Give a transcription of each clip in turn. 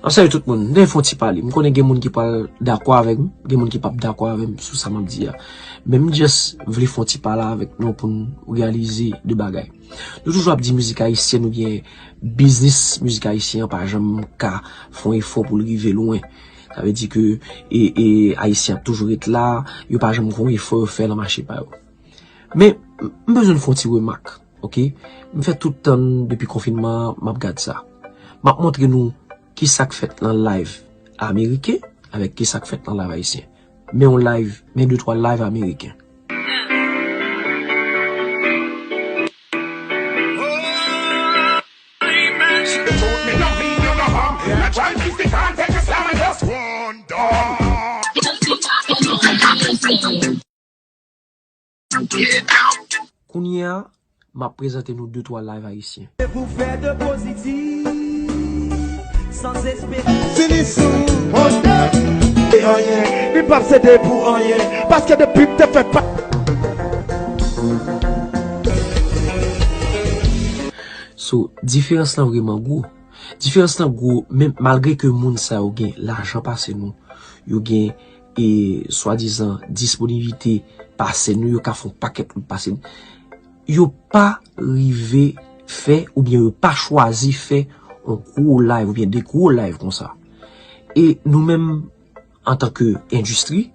Map salye tout moun, mwen fon ti pale, mwen konnen gen moun ki pral dakò avèk m, gen moun ki pap dakò avèk m sou sa map di a. Men m just vle fon ti pale avèk nou pou nou reyalize de bagay. Nou toujou ap di mizik ayisyen nou gen biznis mizik ayisyen an pa janm ka fon efò pou l rive lwen. Sa vle di ke e ayisyen ap toujou ret la, yo pa janm fon efò yo fè nan mache pa yo. Men m bezwen fon ti remak. Ok m fè tout tann depi konfinman an map gad sa map montre nou kisak fèt nan live ameriken avèk kisak fèt nan live ayisyen men yon live men de twa live ameriken. Kounye a, m ap prezante nou de twa live ayisyen. So, diferans lan vreman gwo. Diferans lan gwo menm malgre ke moun sa yo gen lajan pase nou, yo gen e swadizan disponivite pase nou yo ka fon pakèt lout pase nou, yo pa rive fè oubyen yo pa chwazi fè yon gwo live oubyen de gwo live konsa. E nou menm antan ke endistri,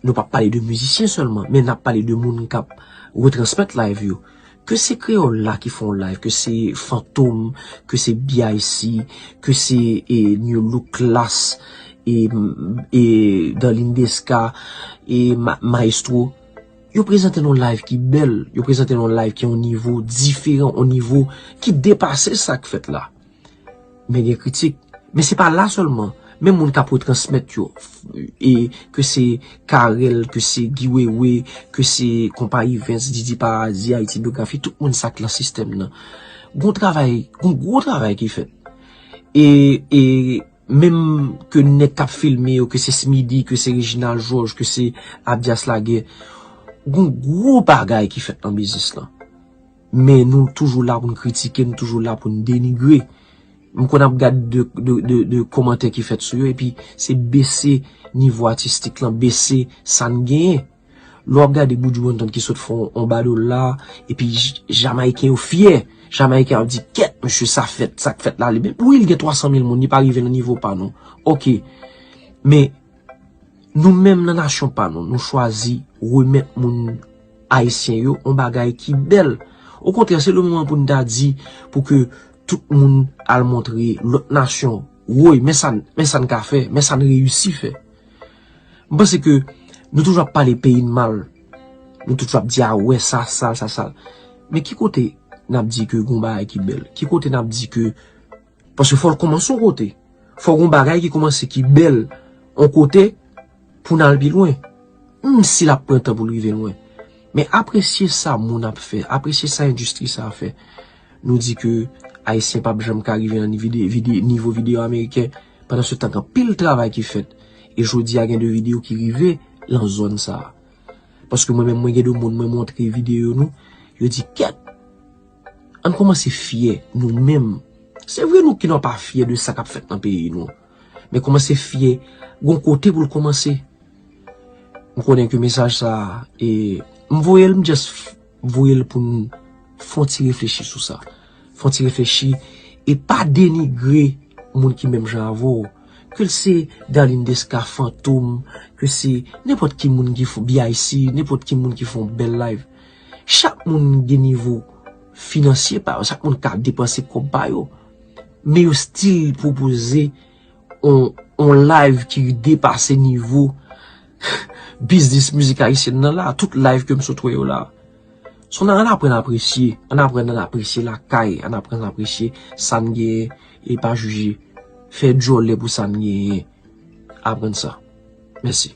nou pa pale de mizisyen sèlman, men nap pale de moun kap retransmèt live yo. Ke se kreyòl la ki fè yon live, ke se fantom, ke se BIC, ke se new look klass, e Darline Desca, e maestro, yo prezante yon live ki bèl, yo prezante yon live ki yon nivo diferan, yon nivo ki depase sa k fèt la. Men gen kritik. Men se pa la sèlman. Men moun kap retransmèt yo. E ke se Carel, ke se Guy Wewe, ke se Kompa Yvens, Didi Parazi, Haiti Biographie, tout moun sa ki lan sistèm nan. Gon travay, gon gwo travay ki fèt. E, e, menm ke nèk kap filme yo, ke se Smidi, ke se Reginald Georges, ke se Abdias Laguerre, gon gwo bagay ki fèt lan biznis lan. Men nou toujou la pou nou kritike, nou toujou la pou nou denigre. M konn ap gad de komantè ki fèt sou yo epi se bese nivo atistik lan, bese sa n genyen. Lè w ap gade Buju Banton ki sot fè yon badòl la, epi Jamayiken yo fyè, Jamayiken ap di kèt mesye sa fèt, sa k fèt la li bèl. Wi l gen 300 mil moun, li pa rive nan nivo pa nou. Ok. Men. Nou menm nan nasyon pa nou, nou chwazi remèt moun ayisyen yo yon bagay ki bèl. Okontrè, se le moman pou nou ta di pou ke tout moun al montre lòt nasyon, woy, men sa n ka fè, men sa n reyisi fè. M panse ke nou toujou ap pale peyi n mal, nou toujou ap di a wè sa sal, sa sal. Men ki kote n ap di ke gen yon bagay ki bèl? Ki kote n ap di ke... Paske fòl kòmanse yon kote. Fò gon bagay ki kòmanse ki bèl yon kote pou nan pi lwen. Menm si lap pran tan pou rive lwen. Men apresye sa moun ap fè. Apresye sa endistri sa fè. Nou di ke Ayisyen pap janm ka rive nan nivo video Ameriken. Pandan se tan gen pil travay ki fèt. E jodi a gen de video ki rive lan zòn sa. Paske mwen menm mwen gen de moun mwen montre video nou. Yo di kèt. Ann kòmanse fyè nou menm. Se vre nou ki nan pa fyè de sa k ap fèt nan peyi nou. Men kòmanse fyè gon kote pou l kòmanse. M konnen ke mesaj sa a e m voye l m just voye l pou n fè yon ti reflechi sou sa. Fè yon ti reflechi e pa denigre moun ki menm jan avè w. Ke l se Darline Desca, Fantom, ke se nenpòt ki moun ki fon BIC, nenpòt ki moun ki fon bèl live. Chak moun gen nivo finansye pa yo, chak moun ka depanse kòb pa yo. Men yo stil pwopoze yon live ki depase nivo biznis mizik ayisyen nan la. Tout live ke m sot wè yo la. Son nan an aprann apresye, an aprann an apresye lakay, an aprann an apresye sa n genyen e pa jije. Fè djòlè pou sa n genyen. Aprann sa. Mèsi.